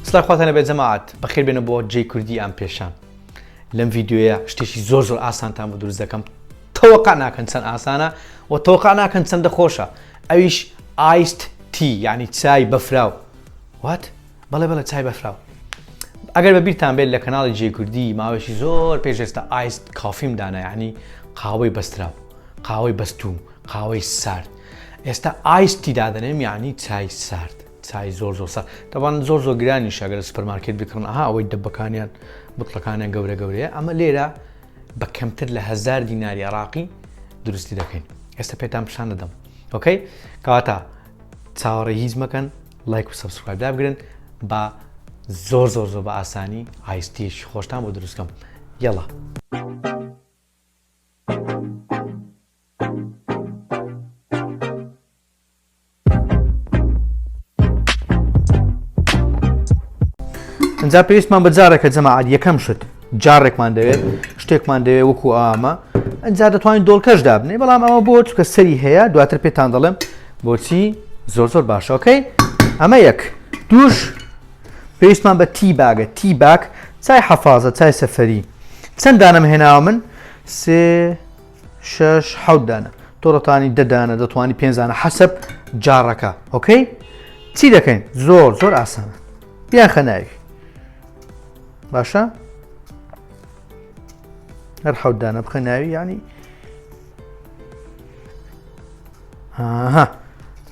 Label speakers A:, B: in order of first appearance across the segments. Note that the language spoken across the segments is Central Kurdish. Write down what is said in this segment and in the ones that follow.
A: سڵای خواتان لەبێت جەماعەت بەخێر بێنە بۆ جێی کوردی ئام پێشان لەم ڤیددیویە شتێکی زۆر زۆر ئاسانتان بە دروست دەکەم تەوەقع ناکەن چەند ئاسانە و تەوەقع ناکەن چەندە خۆشە ئەویش ئایست تی یعنی چای بەفراو وات بەڵێ بەڵە چای بەفراو ئەگەر بە بیرتان بێت لە کەناڵی جێ کوردی ماوەشی زۆر پێشێستا ئایست کافیم دانا یعنی قاوەی بەستراو قاوەی بەستوو قاوەی سارد ئێستا ئایستی دادنێم یعنی چای سارد چای زۆر زۆر سا تەبان زۆر زۆر گرانی شەگەر سپەرمارکێت بکڕن ئەها ئەوەی دەبەکانیان بتڵەکانیان گەورە گەورەیە ئەمە لێرە بە کەمتر لە هزار دیناری عراقی دروستی دەکەین ئێستا پێتان پیشان دەدەم ئۆکەی کەواتە چاوەڕێ هیچ مەکەن لایک و سبسکرایب دابگرن بە زۆر زۆر زۆر بە ئاسانی ئایستیش خۆشتان بۆ دروستکەم یەڵە. ئەجا پێویستمان بە جارێکە جەماعات یەکەم شت جارێکمان دەوێت شتێکمان دەوێت وەکو ئامە ئەجا دەتوانین دۆڵکەش دابنێ بەڵام ئەوە بۆ چکە سەری هەیە دواتر پێتان دەڵێم بۆچی زۆر زۆر باشەکەی ئەمە یەک دوش پێویستمان بە تی باگە تی باک چای حەفاازە چای سەفەری چەند دانم هێناوە من سێ شش حەوت دانە تۆڕەتانی دەدانە دەتوانانی پێنجانە حەسب جاڕەکە ئۆکەی چی دەکەین زۆر زۆر ئاسانە بیان خەناوی باشە هەر حەوت دانە بخە ناوی ینی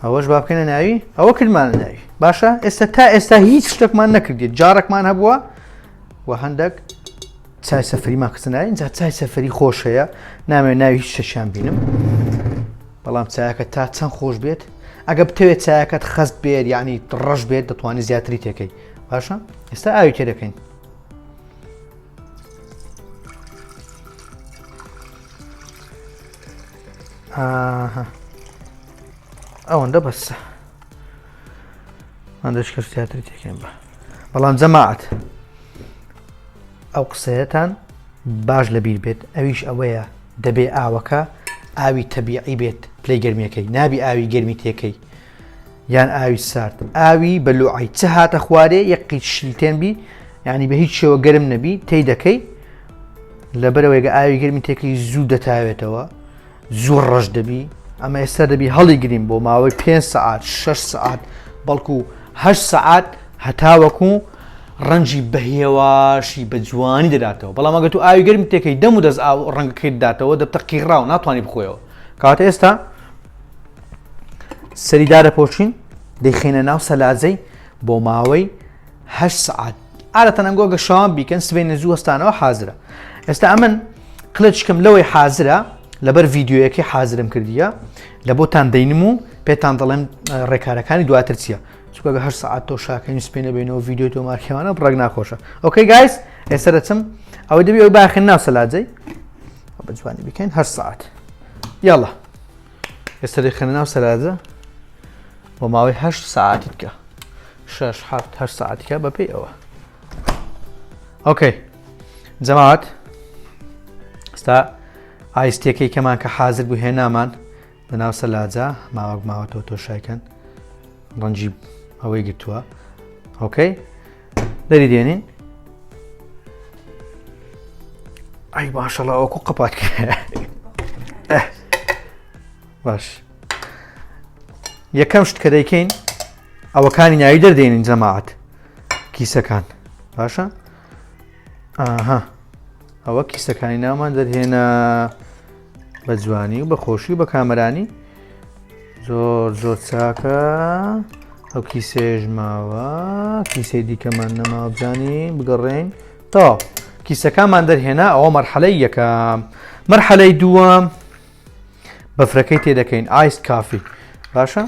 A: ئەوەش با بکەنە ناوی ئەوە کردمانە ناوی باشە ئێستا تا ئێستا هیچ شتێکمان نەکردێت جارێکمان هەبووە و هەندێک چای سەفری ماکسنا اینجا چای سەفری خۆش هەیە نامێ ناوی هیچ شەشیان بینم بەڵام چایەکە تا چەند خۆش بێت ئەگە بتەوێت چایەکەت خەست بێت یعنی ڕەش بێت دەتوانانی زیاتری تێکەی باشە ئێستا ئاوی تێ دەکەین ئەوەندە بەسە مادەشکر زیاتر تێکێن بە بەڵام جەماعات ئەو قسەیەتان باش لە بیر بێت ئەویش ئەوەیە دەبێ ئاوەکە ئاوی تەبیعی بێت پلی گەرمیەکەی نابی ئاوی گەرمی تێکەی یان ئاوی سارد ئاوی بەلوعی چ هاتە خوارێ یەک قیت شیلتێن بی یعنی بە هیچ شێوە گەرم نەبی تی دەکەی لەبەرەوەیگە ئاوی گەرمی تێکەی زوو دەتاوێتەوە زۆر ڕەش دەبی ئەمە ئێستا دەبی هەڵی گرین بۆ ماوەی پێ سعات شش سعات بەڵکو هە سعات هەتاوەکو ڕەنجی بەهێواشی بە جوانی دەداتەوە بەڵام ئەگە تو ئاوی گەرم تێکەی دەم و دەست ئاو ڕەنگەکەی داتەوە دەبتە قیڕاو ناتوانانی بخۆیەوە کاتە ئێستا سەریدارە پۆچین دەیخینە ناو سەلاجەی بۆ ماوەی هەشت سەعات عادەتەن ئەنگۆ گە شەوان بیکەن سبەینە زوو هەستانەوە حازرە ئێستا ئەمن قلچکم لەوەی حازرە لەبەر ڤیددیوەکەی حازرم کردیە لە بۆتان دەینم و پێتان دەڵێم ڕێکارەکانی دواتر چیە چکە هەر ساعت تۆ شاکەین سپێنە بینەوە ڤیددیو تۆ مارکێوانە بڕێک ناخۆشە ئۆکەی گایس ئێستا دەچم ئەوەی دەبی ئەوی باخێن ناو سەلاجەی بەجوانی بکەین هەر ساعت یاڵە ئێستا دەخەنە ناو سەلاجە بۆ ماوەی هە سعاتی بکە شش هەفت هە سعاتیکە بەپی ئەوە ئۆکەی جەماعات ستا ئایستەکەی کەمان کە حاضر بوو هێنامان لە ناو سەلاجە ماوەک ماوەتەوە تۆشایکەن ڕەنجی ئەوەی گرتووە ئۆکەی دەری دێنین ئەی باشەڵا ئەوکو قەپات باش یەکەم شت کە دەیکەین ئەوەکانی ناوی دەردێنین جەماعات کیسەکان باشە ئاها ئەوە کیسەکانی نامان دەرهێنا بە جوانی و بە خۆشی و بە کامەرانی زۆر زۆر چاکە ئەو کیسێژ ماوە کیسەی دیکەمان نەماوە بزانی بگەڕێین تا کیسەکانمان دەرهێنا ئەوە مەرحەلەی یەکەم مەرحەلەی دووەم بەفرەکەی تێدەکەین ئایست کافی باشە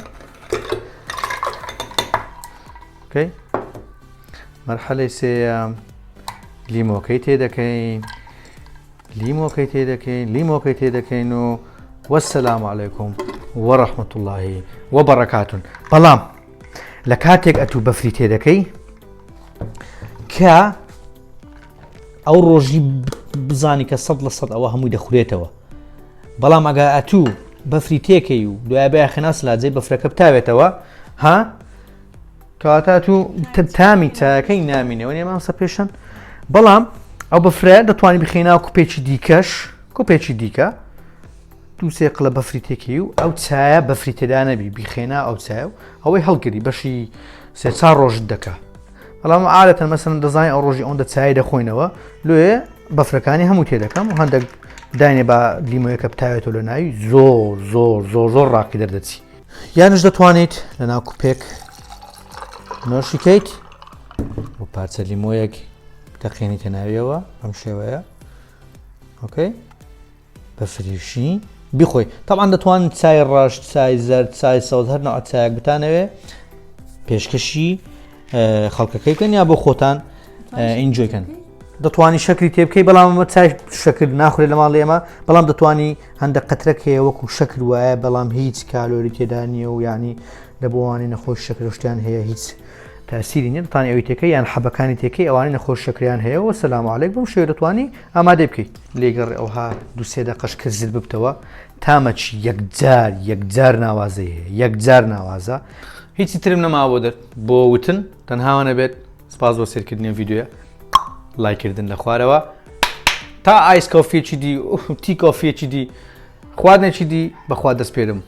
A: مەرحەلەی سێەم لیمۆکەی تێدەکەین لیمۆکەی تێدەکەین لیمۆکەی تێدەکەین و وەسەلام علیکم وەڕەحمەت اللهی وە بەڕکاتون بەڵام لە کاتێک ئەتوو بەفری تێدەکەی کە ئەو ڕۆژی بزانی کە سەد لە سەد ئەوە هەمووی دەخورێتەوە بەڵام ئەگا ئەتوو بەفری تێکەی و دوای بە خناس لاجێ بەفرەکە بتاوێتەوە ها کەواتە تو تامی چایەکەی نامینەوە نێ مامسە پێشەن بەڵام ئەو بەفرە دەتوانانی بخێنا کوپێکی دیکەش کوپێکی دیکە دووسێ قلە بەفری تێکی و ئەو چایە بەفری تێدا نەبی بیخێنا ئەو چای و ئەوەی هەڵگری بەشی سێچا ڕۆژت دەکە بەڵام ئالەتەن مەسن دەزای ئەو ڕۆژی ئەوەندە چای دەخۆینەوە لێ بەفرەکانی هەموو تێ دەکەم و هەندێک داینێ بە لیمۆیەکە بتاوێتەوە لە ناوی زۆر زۆر زۆر زۆر ڕاقی دەردەچی یانش دەتوانیت لە ناو کوپێک نۆشی کەیت و پارچە لیمۆیەک تەقێنی تەناویەوە ئەم شێوەیە ئۆکەی بە فریشی بخۆی تاان دەتوان چای ڕەش چای زەر چای سەوز هەر نەوە چایەک بتانەوێ پێشکەشی خەڵکەکەی بکەن یا بۆ خۆتان ئینجۆی کەن دەتوانانی شەکری تێ بکەی بەڵام ئەمە چای شەکر ناخورێ لە ماڵ ئێمە بەڵام دەتوانانی هەندە قەترەک هەیە وەکو شەکر وایە بەڵام هیچ کالۆری تێدا نییە و ینی لە بۆوانی نەخۆش شەکرشتیان هەیە هیچ تاسیری نیە دەتوانانی ئەوی تێکەکە یان حەبەکانی تێکەکەی ئەوانی نەخۆش شەکریان هەیە و سەلامعاالێک بم شێ دەتوانانی ئامادەی بکەیت لێگەڕ ئەوها دوسێ دە قەش کرزل ببتەوە تامە چی یەکجار یەکجار ناوازەی هەیە یەکجار ناوازە هیچی ترم نەما بۆ دەر بۆ وتن تەنهاوانە بێت سپاس بۆ سێرکردنی ڤیددیوە لایکردن لە خوارەوە تا ئایس کۆفیەکی دی تی کۆفیەکی دی خواردنێکی دی بەخوا دەست پێرم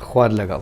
A: خوارد لەگەڵ